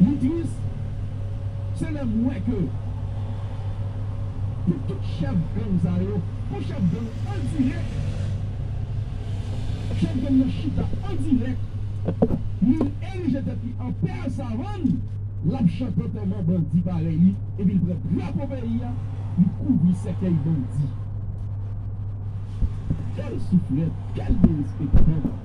Li tris se lè m wè ke pou tout chèf gang sa yo, pou chèf gang endirèk, chèf gang nan chita endirèk, li erije tèt li an pè savann, l ap chante antèman bandi parèy li, epi l pran drapo peyi a, li kouvri sèkèy bandi. Kèl souflèt, kèl derespektan!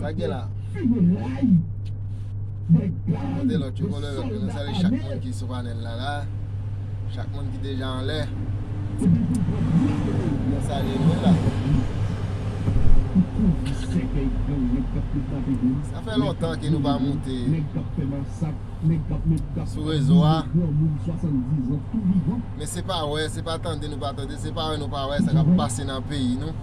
Sa gen la? Kote lòt yo, kote lòt yo. Nou salye chak moun ki sou panèl la la. Chak moun ki deja anlè. Nou salye nou la. Sa fè lontan ke nou pa moute sou rezo a. Men se pa wè, se pa tande nou pa tande, se pa wè nou pa wè sa kap pase nan peyi nou.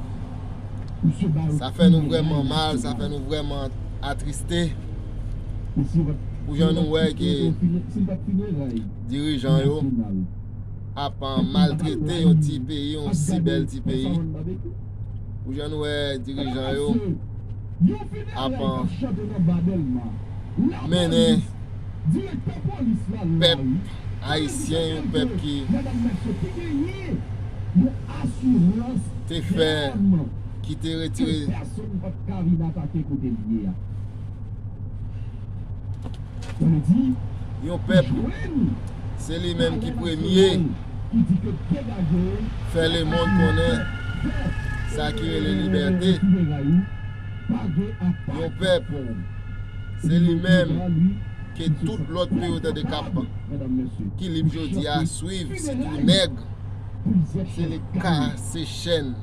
Sa fè nou vrèman mal, sa fè nou vrèman atriste pou jan nou wè ke dirijan yo ap maltrete yon ti peyi, yon si bèl ti peyi. Pou jan nou wè dirijan yo ap mennen pèp. Ayisyen yon pèp ki te fè ki te retire yon pèp se li menm ki premye fè lemond konnen sa ki rele libète yon pèp se li menm ke tout lòt ke yo tande kap kilib jodi a swiv sitou nèg se li ki kase chèn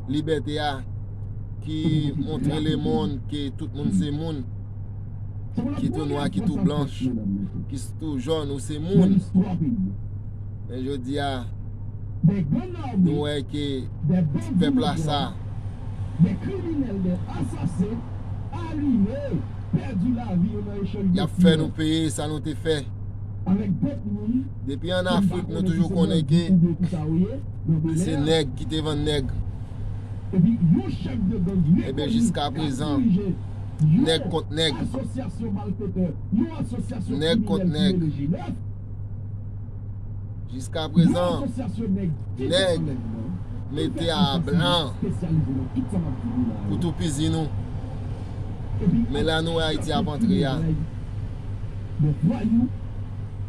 libète a ki montre lemonn ke tout moun se moun ki tou nwa ki tou blanch ki tou jòn ou se moun men jodi a nou wè ke ti pèp la sa pèdi lavi yo nan echanj de tir. Yap fè nou peye sa nou te fè. Avèk dòt moun. Depi an Afrik nou toujou konnen ke se nèg ki te vann nèg. Epi yon chèf de gang rekoni kap dirije yon. Eben jiskaprezan nèg kont nèg. Asosyasyon malfetè, yon asosyasyon kriminèl ki mele je 9. Jiska prezan nèg mete a blan pou toupizi nou. Men la nou wè Ayiti ap antre a.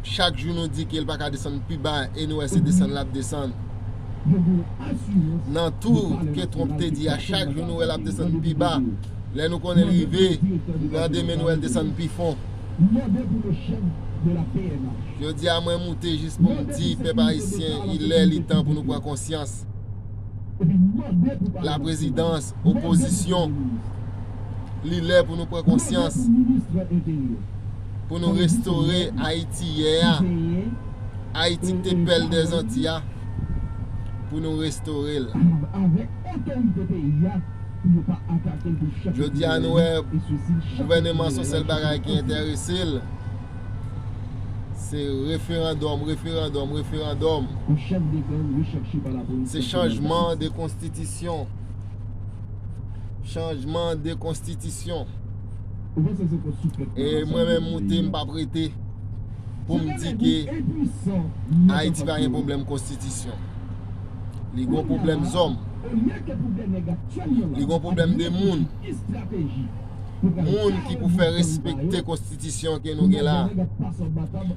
Chak jou nou di ke l pa ka desann pi ba e nou wè se desann l ap desann. Nan tou ke Trump te di a chak jou nou wè l ap desann pi ba. Lè nou konnen l rive nan demen nou wè l desann pi fon. mande pou le chef de la pnh. Jodi a mwen moute jis pou m di pèp Ayisyen il lè li tan pou nou pran konsyans. La prezidans, opozisyon, li lè pou nou pran konsyans pou nou restore Ayiti yè a, Ayiti k te pèl dè zanti a, pou nou restore l. pou yo pa atakel de chak Jodia nou wè gouvèneman son sèl bagay ki entèresel se referandòm referandòm referandòm se chanjman de konstitisyon chanjman de konstitisyon e mwen menm moute m pap rete poum di ke Ayiti pa gen pwoblèm konstitisyon. Li gon pwoblèm zòm. Li gon pwoblèm de moun. Moun ki pou fè respekte konstitisyon ke nou gen la.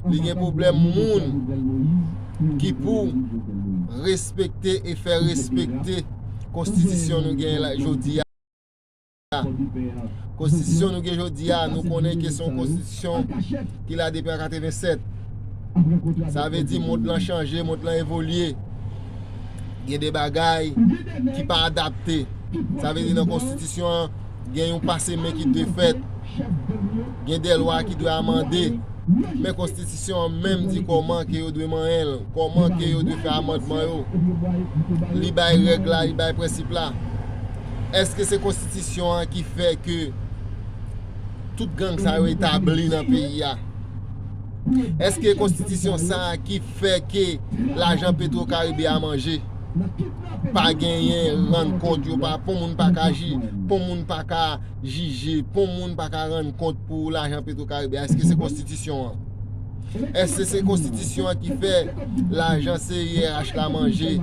Li gen pwoblèm moun ki pou respekte e fè respekte konstitisyon nou gen la jodi a. Konstitisyon nou gen jodi a, nou konnen ke se yon konstitisyon ki la depi an 87. Sa vle di mond lan chanje, mond lan evolye. Gen de bagay ki pa adapte. Sa vle di nan konstitisyon an, gen yon pase men ki dwe fèt. Gen de lwa ki dwe amande. Men konstitisyon an menm di kòman ke yo dwe manyen l, kòman ke yo dwe fè amandman yo. Li bay règ la, li bay prensip la. Eske se konstitisyon an ki fè ke tout gang sa yo etabli nan peyi a? Eske konstitisyon sa a ki fè ke lajan petro karibe a manje? Pa genyen rann kont yo pa, pou moun pa ka ji, pou moun pa ka jije, pou moun pa ka rann kont pou lajan petro karibe a, eske se konstitisyon an? Eske se konstitisyon an ki fè lajan CIRH la manje,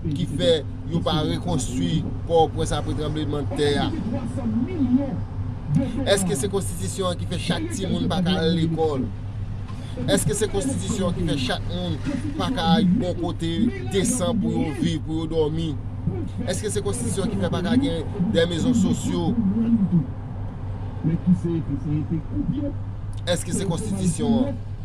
ki fè. yo pa rekonstwi Pòtoprens apre tranbleman tè a? Èske se konstitisyon an ki fè chak timoun pa ka al lekòl? Èske se konstitisyon an ki fè chak moun pa ka yon bon kote desan pou yo viv, pou yo dòmi? Èske se konstitisyon an ki fè pa ka gen de mezon sosyo? Èske se konstitisyon an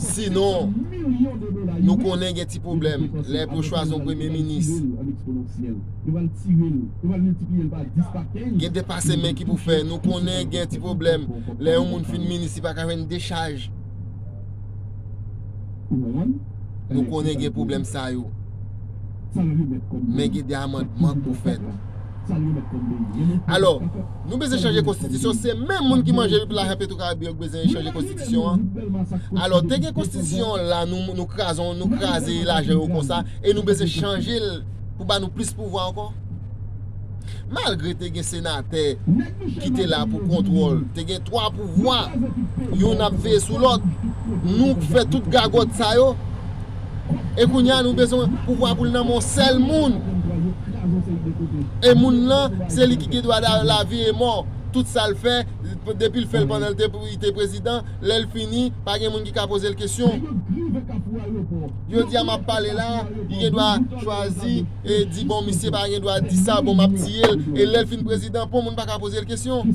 Sinon, nou konnen gen ti pwoblèm lè pou chwazi yon premye minis. Gen depase men ki pou fè. Nou konnen gen ti pwoblèm lè yon moun fin minis li pa ka jwenn dechaj. Nou konnen gen pwoblèm sa yo. Men gen de amandman k pou fèt. Alò, nou bezwen chanje konstitisyon, se menm moun ki manje wi pou lajan petro karibe yo ki bezwen chanje konstitisyon an. Alò, te gen konstitisyon an la, nou kraze, nou kraze lajan yo konsa, e nou bezwen chanje l pou ba nou plis pouvwa ankò? Malgre te gen senatè ki te la pou kontwòl, te gen 3 pouvwa, youn ap veye sou lòt, nou k fè tout gagòt sa yo, e kounye a nou bezwen pouvwa pou l nan men yon sèl moun, e moun lan se li ki gen dwa lavi e mò, tout sa l fè, depi l fè l pandan li te prezidan, lè l fini, pa gen moun ki ka poze l kesyon. Jodi a m ap pale la, li gen dwa chwazi e di bon misye pa gen dwa di sa, bon m ap tiye l, e lè l fin prezidan, pou moun pa ka poze l kesyon.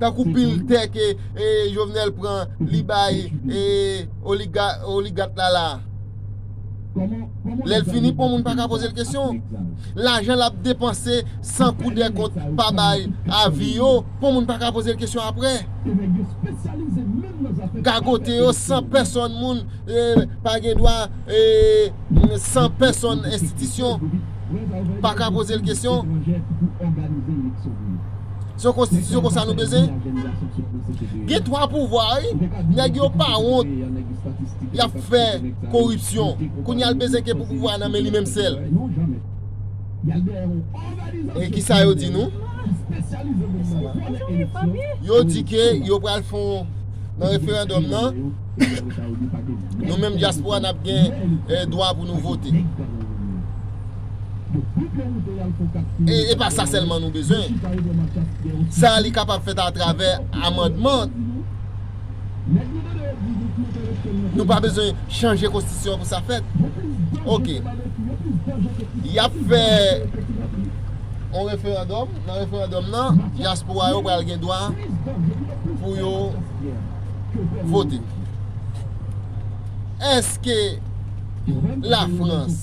Tankou pil tè ke Jovenel pran li bay oligat la la. Lè l fini pou moun pa ka poze l kesyon. Lajan l ap depanse san kou dè kont pa bay avi yo pou moun pa ka poze l kesyon apre. Gagote yo san pèsòn moun pa gen dwa san pèsòn enstitisyon pa ka poze l kesyon. Se yon konstitisyon konsa nou bezyen? Gen 3 pouvwa wi, nèg yo pa wont yap fè koripsyon, kounye a l bezyen gen pou pouvwa a nan men li menm sèl. E kisa yo di nou? Yo di ke yo pral fè yon nan referandòm nan, nou menm dyaspora nap gen dwa pou nou vote. E pa sa sèlman nou bezwen, sa li kapab fèt atravè amandman. Nou pa bezwen chanje konstitisyon pou sa fèt. Ok. Y ap fè yon referandòm, nan referandòm nan, dyaspora yo pral gen dwa pou yo vote. Eske. Lafrans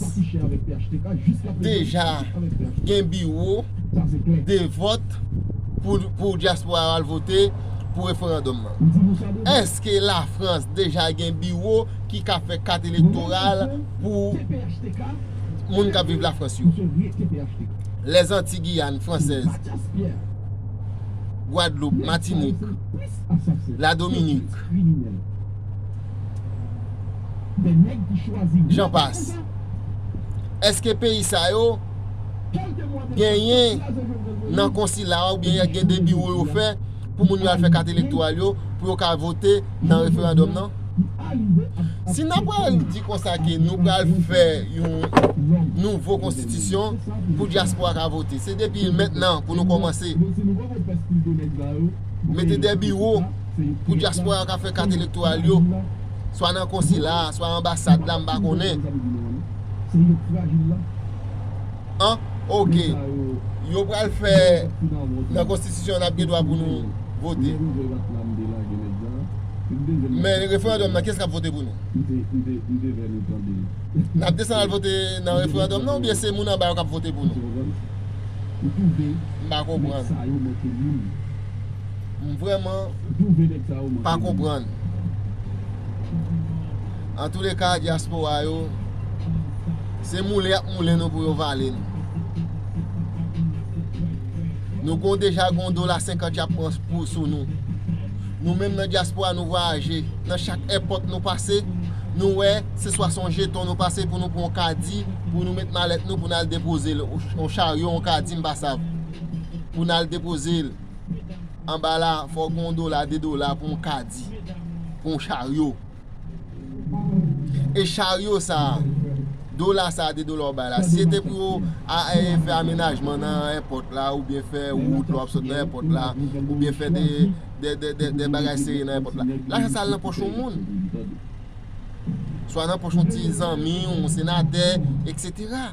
deja gen biwo de vòt pou dyaspora yo al vote pou referandòm nan? Èske Lafrans deja gen biwo ki ka fè kat elektoral pou moun k ap viv Lafrans yo? Lèzanti Giyàn fransèz, Gwadloup, Matinik, Ladominik? Jan pas. Eske peyi sa yo genyen nan konsila ou byen yè gen de biwo yo fè pou moun yo al fè kat elektoral yo pou yo ka vote nan referandòm nan? Si nan pral di konsa ke nou pral fè yon nouvo konstitisyon pou dyaspora ka vote, se depi mèt nan pou nou kòmanse mete de biwo. pou dyaspora yo ka fè kat elektoral yo, swa nan konsila a, swa anbasad la, m pa konnen. An, ok, yo pral fè nan konstitisyon an ap gen dwa pou nou vote. Men referandòm nan, kiyès k ap vote pou nou? N ap desann al vote nan referandòm nan oubyen se moun anba yo k ap vote pou nou? M pa konprann. M vrèman pa konprann. Antouleka diaspora yo se moulen yap moulen nou pou yo vale nou. Nou gon deja gon dola 50 yap pran pou sou nou. Nou menm nan diaspora nou vwayaje nan chak èpòt nou pase nou wè se swa son jeton nou pase pou nou pran yon kadi pou nou met malèt nou pou nal depoze l yon charyo yon kadi m pa sav pou nal depoze l. Anba la fò gen yon dola, de dola pou yon kadi, pou yon charyo. E charyo sa, dola sa, de dola ou bay la, si se te pou yo fè amenajman nan èpòt la, ou byen fè wout lò ap sot nan èpòt la, ou byen fè de bagay seri nan èpòt la, lajan sa al nan pòch yon moun. Swa nan pòch yon ti zanmi, yon senatè, eksetera.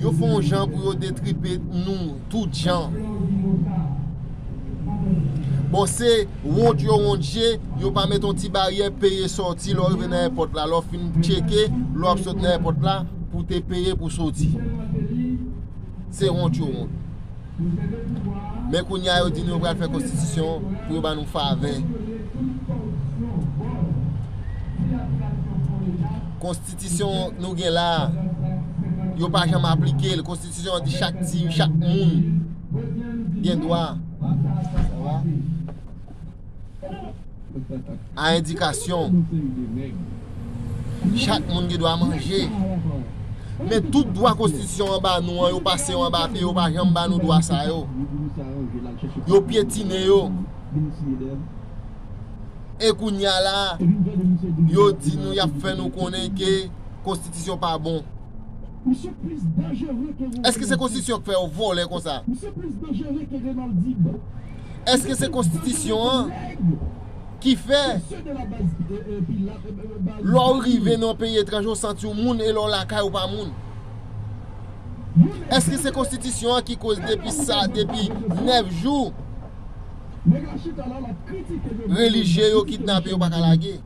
Yo fè yon jan pou yo detripe nou tout jan. Bon se wont yo wont je, yo pa met yon ti baryè peye sòti lè w rive nan èpòt la. Lè w fin tcheke, lè w ap sot nan èpòt la pou te peye pou soti. Se wont yo wont. Men kounye a yo di nou yo pral fè konstitisyon pou yo ba nou favè. Konstitisyon nou gen la a, yo pa janm aplike l. Konstitisyon an di chak ti, chak moun gen dwa. A endikasyon Chak moun gen dwa manje Men tout dwa konstitisyon an ba nou an yo pase yo an ba pye yo pa janm ba nou dwa sa yo Yo pyetine yo E kounya la yo di nou yap fè nou konnen ke konstitisyon pa bon Eske se konstitisyon k fè yo vòlè konsa. Eske se konstitisyon an ki fè lè w rive nan yon peyi etranje w santi w moun e lè w lakay ou pa moun? Eske se konstitisyon an ki koz depi sa, depi 9 jou relijye yo kidnape yo pa ka lage?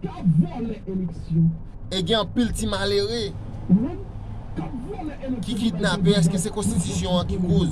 E gen anpil ti malere ki kidnape eske se konstitisyon an ki koz?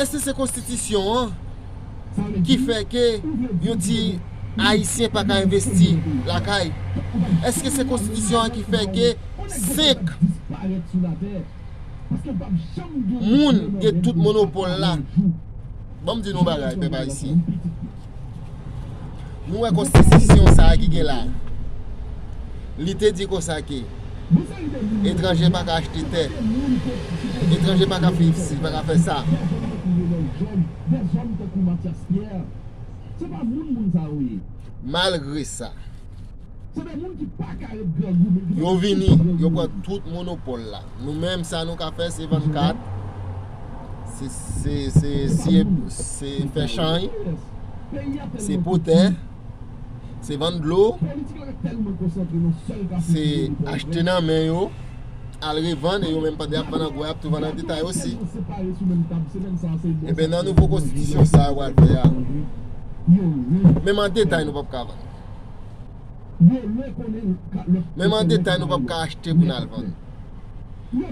Eske se konstitisyon an ki fè ke yo di ayisyen pa ka envesti lakay? Eske se konstitisyon an ki fè ke 5 moun gen tout monopòl la? Banm di nou yon bagay pèp ayisyen. Nou wè konstitisyon sa a ki gen la a. Li te di konsa ke etranje pa ka achte tè, etranje pa ka viv si, pa ka fè sa. Malgre sa. Yo vini, yo pran tout monopòl la. Nou menm sa nou ka fè se vann kat, se fè chany, se potè, se vann dlo, se achte nan men yo, al revann e yo menm pande ap vann an gwo ap tou vann an detay osi. Ebe nan nouvo konstitisyon sa yo pral fè a, menm an detay nou pap ka vann. Menm an detay nou pap ka achte pou nal vann.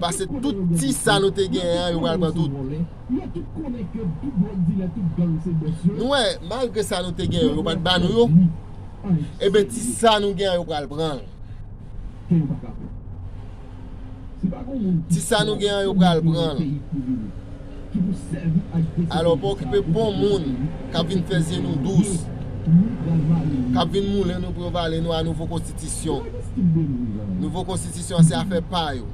Pase tout ti sa nou te genyen an yo pral pran tout. Nou wè malgre sa nou te genyen yo yo pat ba nou yo. Eben ti sa nou genyen an yo pral pranl. Ti sa nou gen an yo pral pran l. Alò pa okipe bon moun k ap vin fè zye nou dous, k ap vin moulen nou pou yo vale nou a nouvo konstitisyon. Nouvo konstitisyon an se afè pa yo.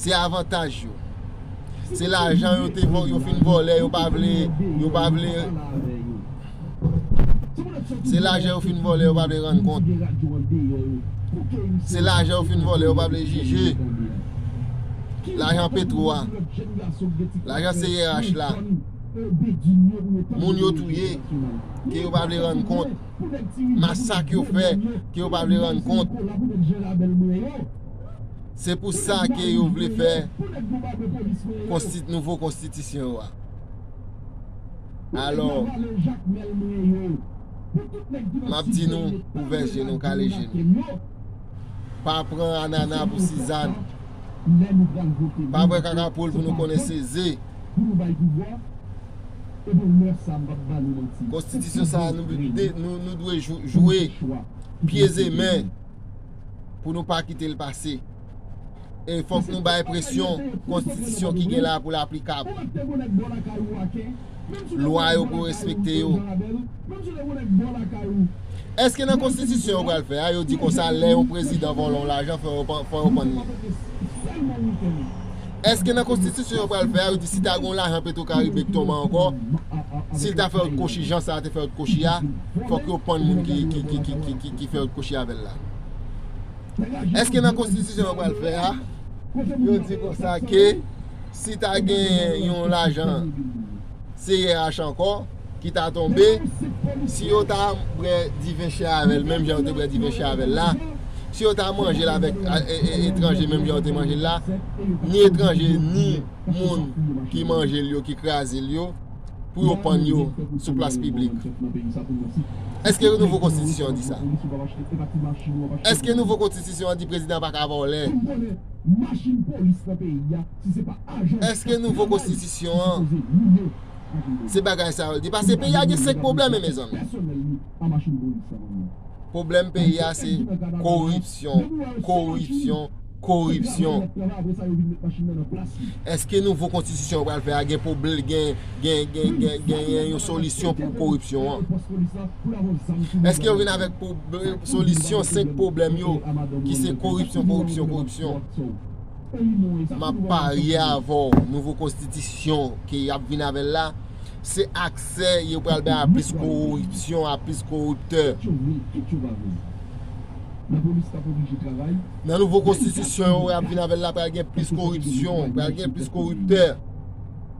Se avantaj yo. Se lajan yo te yo fin vòlè yo pa vle yo pa vle. Se lajan yo fin vòlè yo pa vle rann kont Se lajan yo fin vòlè yo pa vle jije Lajan petro a Lajan CRH la Moun yo touye Ke yo pa vle rann kont Masak yo fè Ke yo pa vle rann kont Se pou sa ke yo vle fè Konsti nouvo konstitisyon yo a Alò, m ap di nou, ouvè je nou, kale je nou. Pa pran anana pou sizann. Pa vwe kaka poul pou nou konnen se ze. Konstitisyon sa a nou dwe jwe pye ze men pou nou pa kite l pase. E fòk nou bay presyon konstitisyon ki gen la pou l aplikab. Lwa yo pou respekte yo. Eske nan konstitisyon yo pral fè a, yo di konsa lè yon prezidan vòlò w lajan fò yo pann li? Eske nan konstitisyon yo pral fè a, yo di si ta gen yon lajan petwokaribe k tonbe ankò, si l ta fè otkochi jan sa a te fè otkochi a, fòk yo pann moun ki fè otkochi avè l la? Eske nan konstitisyon yo pral fè a, yo di konsa ke si ta gen yon lajan CIRH ankò ki ta tonbe, si yo ta bwè diven chè avèl menm jan yo te bwè diven chè avèl la, si yo ta manjel avèk etranje menm jan yo te manjel la, ni etranje ni moun ki manjel yo, ki krazel yo. pou yo pann yo sou plas piblik. Eske yon nouvo konstitisyon an di sa? Eske nouvo konstitisyon an di prezidan an pa ka vòlè? Eske nouvo konstitisyon an se bagay sa yo l di? Pase peyi a gen 5 pwoblèm mezanmi. Pwoblèm peyi a se koripsyon, koripsyon. koripsyon. Eske nouvo konstitisyon yo pral fè a genyen yon solisyon pou koripsyon an? Eske yo vin avèk solisyon 5 pwoblèm yo ki se koripsyon, koripsyon, koripsyon? M ap parye avè w, nouvo konstitisyon ke y ap vin avè l la, se aksè yo pral bay a plis koripsyon, a plis koriptè. Nan nouvo konstitisyon yo ap vin avèl la pral gen plis koripsyon, pral gen plis koriptè.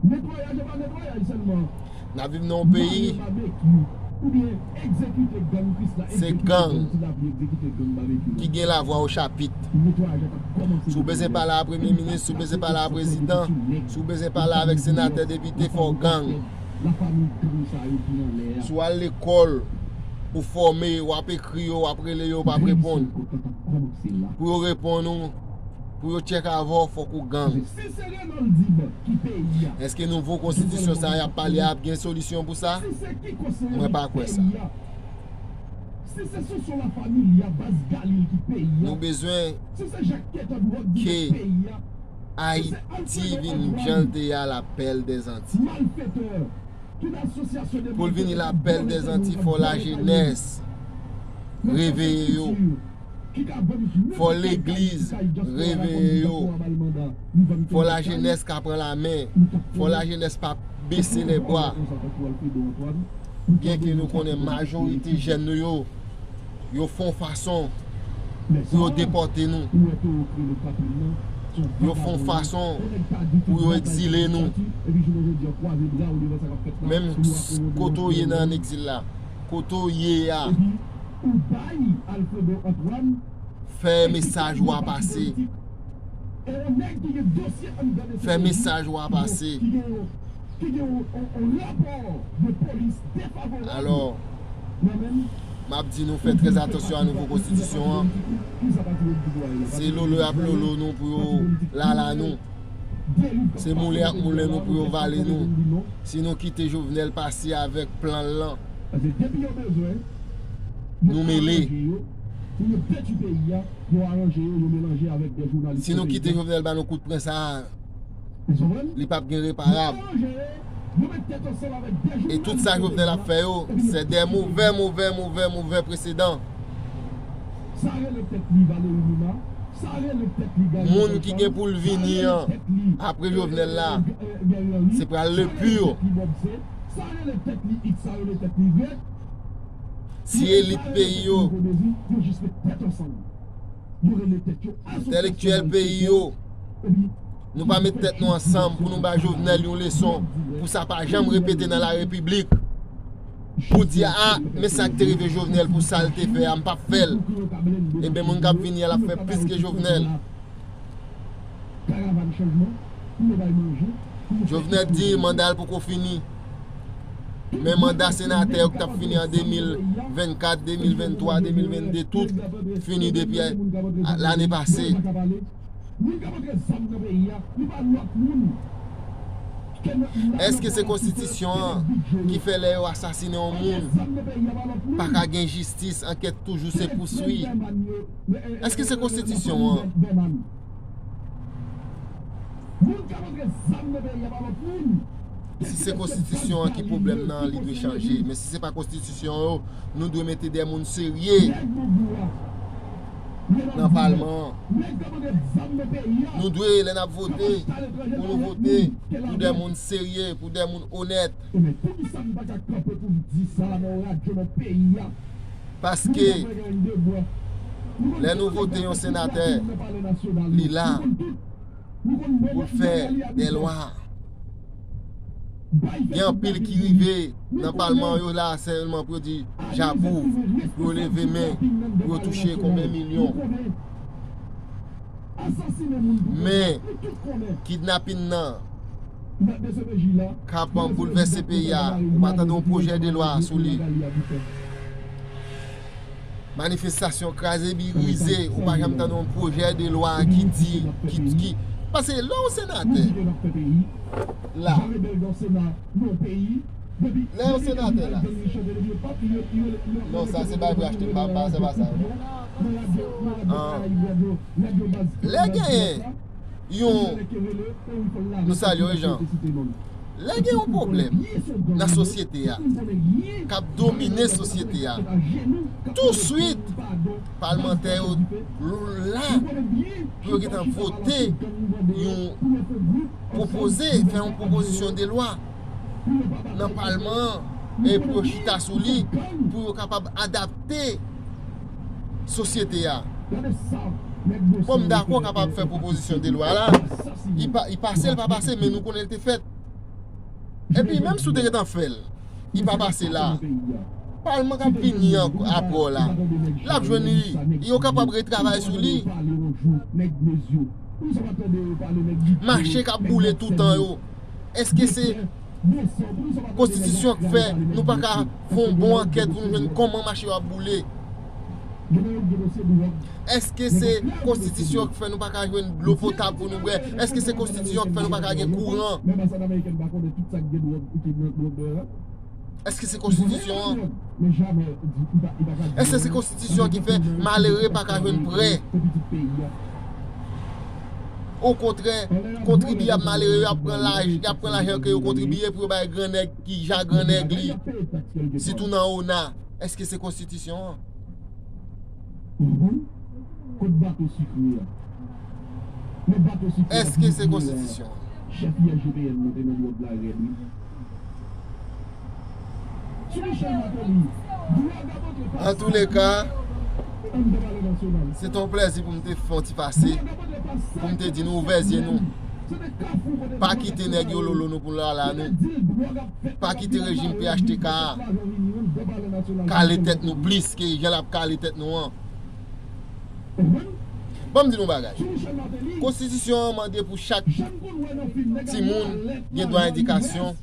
Netwayaj e pa netwayaj selman. Nap viv nan yon peyi. Mare babekyou ou byen egzekite gang kris la egzekite gang ti lapli egzekite gang babekyou la. Ki gen la vwa o chapit. Netwayaj la tap komanse depi lè. Si w bezwen pale a premye minis, si w bezwen pale a prezidan, si w bezwen pale avek senatè depite fò w gang. la famiy gang sa yo ki nan lè a. Si w al lekòl, ou fòme, w ap ekri yo, w ap rele yo, yo p ap reponn. Pou yo reponn ou, pou yo tchèk avè w, fòk ou gang. Èske nouvo konstitisyon sa a y ap pale a ap gen solisyon pou sa? Mwen pa kwè sa. Nou bezwen ke. Ayiti vin jan l te a la pèl dè zanti. Pou l vini la pèl dè zanti fò lajenès reveye yo, fò legliz reveye yo, fò lajenès ka pran la men, fò lajenès pa bese lè bwa. Byenke nou konnen majorite jèn nou yo Yo fon fason pou yo depòte nou. Yo fon fason pou yo egzile nou. Menm kote ou ye nan an egzil la. Kote ou ye a. Fè mesaj ou a pase. Fè mesaj ou a pase. ki gen yon rapò de polis defavorab. Alò, m ap di nou fè trè atansyon a nouvo konstitisyon an. Se lolo y ap lolo nou pou yo lala nou. Se moulen y ap moulen nou pou yo vale nou. Si nou kite Jovenel pase avèk plan l lan, nou mele. Si nou kite Jovenel ba nou kout pren sa a. li pap gen reparab e tout sa Jovenel ap fè yo se de movè movè movè movè presedan moun ki gen poul vini an apre Jovenel la se pral le pur si elit peyi yo Entèlektyèl peyi yo, nou pa met tèt nou ansanm pou nou ba Jovenel yon leson pou sa pa janm repete nan la repiblik. Pou di a, ah, men sa k te rive Jovenel pou sa l te fè a m pap fè l. Eben eh moun k ap vini a l ap fè plis ke Jovenel. Jovenel di manda l poko fini. Men manda senatè yo ki t ap fini an 2024, 2023, 2022 tout fini depi lane pase. Eske se konstitisyon an ki fè lè yo asasine yon moun pa ka gen jistis, ankèt toujou se pouswi? Eske se konstitisyon an? Moun kap antre zam nan peyi a pa lot moun. Si se konstitisyon an ki pwoblèm nan li dwe chanje men si se pa konstitisyon yo nou dwe mete de moun serye nan palman an nou dwe lè nap vote pou nou vote pou de moun serye pou de moun onèt. Paske lè nou vote yon senatè, li la pou l fè dè lwa. Gen anpil ki rive nan palman yo la sèlman pou yo di j'approuve, pou yo leve men, pou yo touche konbyen milyon. Men, kidnapin nan k ap boulvèse peyi a, ou pa tande yon pwojè de lwa sou li. Manifestasyon kraze brize, ou pa janm tande yon pwojè de lwa ki di, ki, paske lè yon senatè la, lè yon senatè la, non sa se bay pou yo achte, se pa sa non. Polisye ou a fè sa yi bwa dlo nèg yo baz kle baz kilòt la Yon mele kerele e ou fèl lave tout moun ap rete site nonl Lè gen yon pwoblèm nan sosyete a kap domine sosyete a touswit palmantè yo la pou yo gentan vote yon pwopoze fè yon pwopozisyon de lwa nan palman an e pou yo chita sou li pou yo kapab adapte sosyete a. Bon m dakò kapab fè pwopozisyon de lwa la, li pase li pa pase men nou konnen li te fèt. Epi menm si w te gentan fè l, li pa pase la, palman kap vini aprè w la, lap jwenn li, e yo kapab retravay sou li. Mache kap boule toutan yo, èske se. Konstitisyon k fè nou pa ka fè yon bon ankèt pou nou jwenn kòman mache yo ap boule? Èske se Konstitisyon k fè nou pa ka jwenn dlo potab pou nou bwè? Èske se Konstitisyon k fè nou pa ka gen kouran? Èske se Konstitisyon an? Èske se Konstitisyon an ki fè malere pa ka jwenn prè? Okontrè, kontribyab malere yo ap pran lajan ke yo kontribye pou yo bay gran nèg ki ja gran nèg li, sitou nan ona. Eske se konstitisyon an? Eske se konstitisyon an? An tou le ka, se te yon plèzi pou m te fè yon ti pase, pou m te di nou ouvè zye nou, pa kite nèg yo lolo nou pou lala nou, pa kite rejim phtk a kale tèt nou plis ke jan l ap kale tèt nou an. Banm di nou bagay. Konstitisyon an mande pou chak timoun gen dwa edikasyon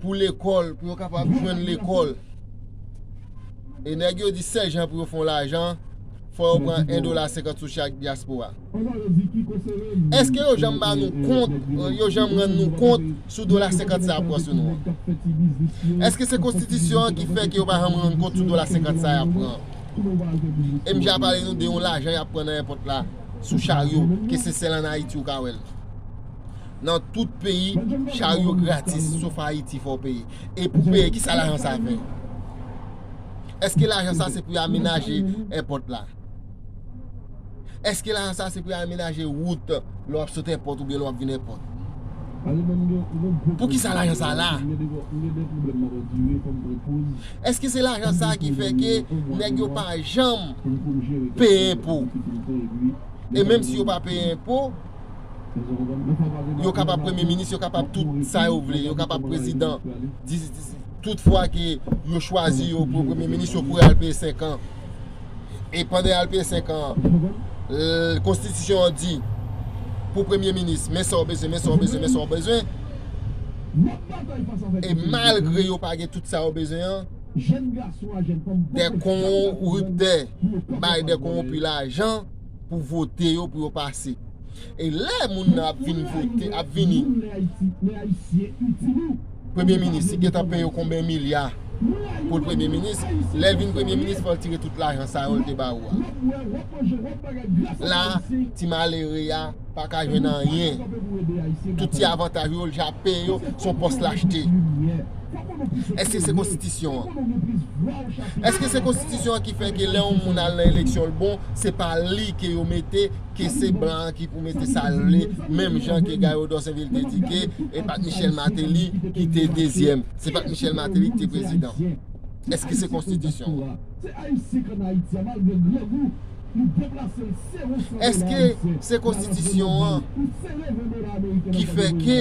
pou lekòl, pou yo kapab jwenn lekòl. E nèg yo di sèl jan pou yo fon lajan, fò yo pran 1 dola 50 sou chak dyaspora. Eske yo janm ba nou kont, yo janm rann nou kont sou dola 50 sa yap pran sou nou an? Eske se konstitisyon an ki fè ke yo pa janm rann kont sou dola 50 sa yap pran an? E m ja pale nou de yon lajan yap pran nan èpòt la sou charyo ke se sèl an Ayiti ou ka wè l. Nan tout peyi, charyo gratis sof Ayiti fò w peye. E pou w peye, kisa lajan sa fè? Eske lajan sa se pou yo amenaje èpòt la? Eske lajan sa se pou yo amenaje wout lè w ap sot èpòt oubyen lè w ap vin èpòt? Poukisa lajan sa la? Eske se lajan sa ki fè ke nèg yo pa janm peye enpo? E menm si yo pa peye enpo, yo kapab premye minis, yo kapab tout sa yo vle, yo kapab prezidan, tout fwa ke yo chwazi yo pou premye minis, yo kouri al peye 5 an. e pandan yal peye 5 an an konstitisyon an di pou premye minis men sa w bezwen men sa w bezwen men sa w bezwen e malgre yo pa gen tout sa yo bezwen an de konwonptè bay de konwonpi lajan Pou vote yo pou yo pase. E lè moun nan ap vin vote ap vini. Premye minis li gentan peye yo konben milya pou l premye minis. Lè l vin premye minis fò l tire tout lajan sa yo l te ba ou a. La ti malere a pa ka jwenn anyen. Tout ti avantaj yo l ja peye yo son pòs lachte. Eske se konstitisyon an? Eske se konstitisyon an ki fè ke lè yon moun al nan eleksyon l bon, se pa li ke yo mete, ke se blan an ki pou mete sa l vle, menm jan ke Gayo Dòsenvil te di ke e pat Michèl Mateli ki te dezyèm, se pat Michèl Mateli ki te prezidan. Eske se konstitisyon an? Eske se konstitisyon an ki fè ke.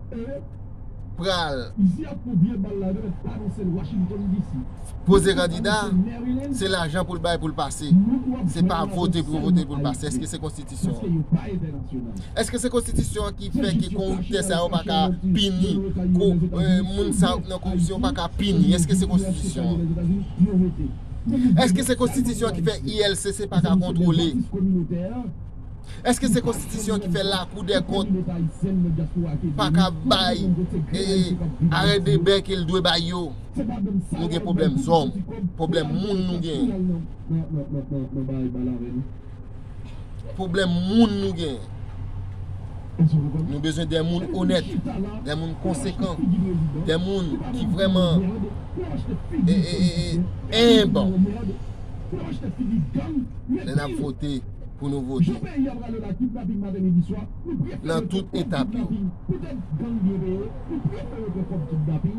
pral poze kandida se lajan pou l bay pou l pase se pa vote pou yo vote pou l pase eske se konstitisyon an eske se konstitisyon an ki fè ki koriptè sa yo pa ka pini moun sa yo ki nan koripsyon pa ka pini eske se konstitisyon an eske se konstitisyon an ki fè ILCC pa ka kontrole Eske se konstitisyon ki fè lakou dè kont pa ka bay arè de bè ke l dwe bay yo? Nou gen pwoblèm zòm, pwoblèm moun nou genyen. Pwoblèm moun nou genyen. Nou bezwen dè moun onèt, dè moun konsekan, dè moun ki vreman enb. Lè n ap vote. pou nou vote nan tout etap yo.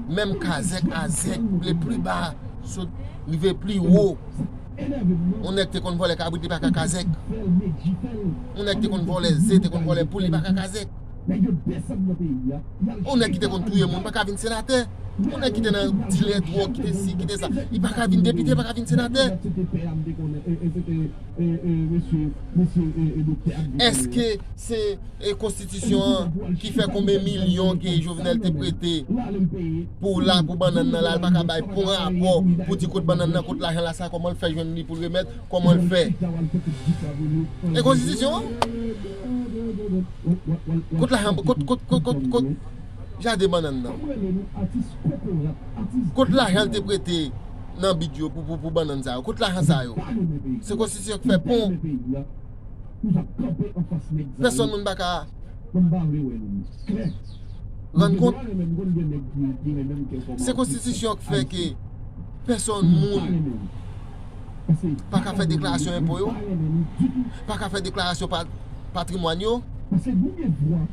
Menm kazèk a zèk le pli ba sot rive pli wo. Yon nèg te konn vòlè kabrit li pa ka kazèk. Yon nèg te konn vòlè ze, te konn vòlè poul li pa ka kazèk. Yon nèg ki te konn touye moun pa ka vin senatè. Yon nèg ki te nan dilè dwòg, ki te si, ki te sa. Li pa ka vin depite, li pa ka vin senatè. Eske se konstitisyon an ki fè konbe milyon ke Jovenel te prete pou la pou bannann nan la li pa ka bay pou rapò pou di kot bannann nan kot lajan la sa koman l fè jwenn li pou l remèt koman l fè e konstitisyon an kot lajan kot kot kot jaden bannann nan. Kot lajan l te prete nan bid yo pou bannann sa yo? Kot lajan sa yo? Se konstitisyon ki fè pon. Pèsòn moun pa ka rann kont. Se konstitisyon ki fè ke pèsòn moun pa ka fè deklarasyon enpo yo, pa ka fè deklarasyon patrimwàn yo.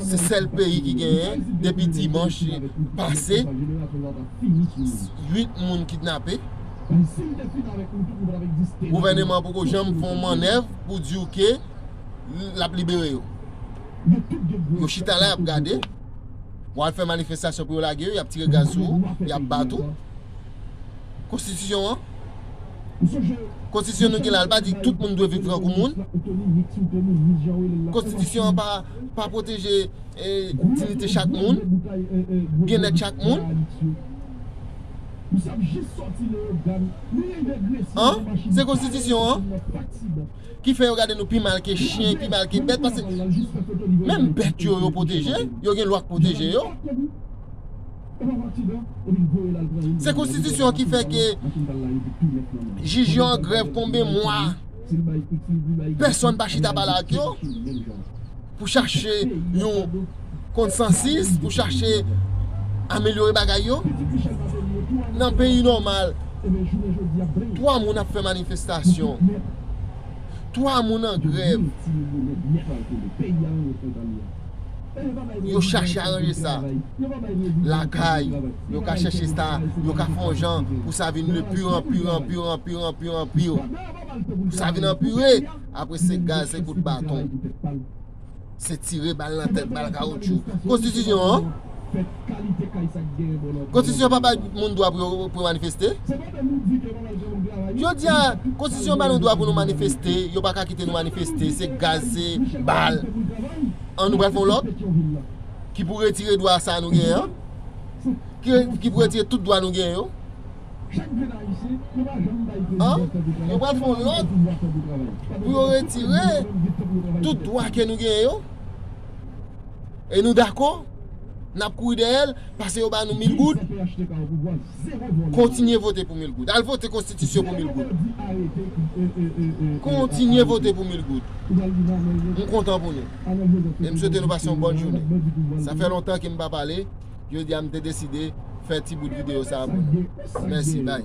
se sèl peyi ki genyen depi dimanche pase 8 moun kidnape gouvèneman poko janm fè yon mannèv pou diw ke lap libere yo yo chita la yap gade wap fè manifestasyon pou yo lage yo yap tire gaz sou ou yap bat ou Konstitisyon an. Konstitisyon nou gen la, li pa di tout moun dwe viv tankou moun. Konstitisyon an pa pwoteje dinite chak moun, byennèt chak moun. An, se konstitisyon an ki fè yo gade nou pi mal ke chyen, pi mal ke bèt, paske menm bèt yo yo pwoteje, yo gen lwa k pwoteje yo. Se konstitisyon an ki fè ke jij yo an grèv konbe mwa, pèsonn pa chita pale ak yo pou chache yon konsansis, pou chache amelyore bagay yo. Nan peyi nòmal, 3 moun ap fè manifestasyon, 3 moun an grèv. yo chache aranje sa lakay, yo ka chache sa, yo ka fè yon jan pou sa vin de pire an pire, an pire, an pire, an pire, an pire. Pou sa vin anpire, apre se gaz, se kout baton. Se tire bal nan tèt, bal kawoutchou. Konstitisyon an, konstitisyon pa bay moun dwa pou manifeste. Jodi a, konstitisyon bay nou dwa pou nou manifeste, yo pa ka kite nou manifeste, se gaz, se bal. An nou pral fè yon lòt ki pou retire dwa sa nou genyen an, ki pou retire tout dwa nou genyen yo. An yo pral fè yon lòt pou yo retire tout dwa ke nou genyen yo. E nou dakò, n ap kouri dèyè l, pase yo ba nou mil goud. Kontinye vote pou mil goud. Al vote konstitisyon pou mil goud. Kontinye vote pou mil goud. M kontan pou nou. E m swete nou pase yon bòn jounen. Sa fè lontan ke m pa pale. Jodi a m te deside fè ti bout videyo sa a pou nou. Mèsi. Bye.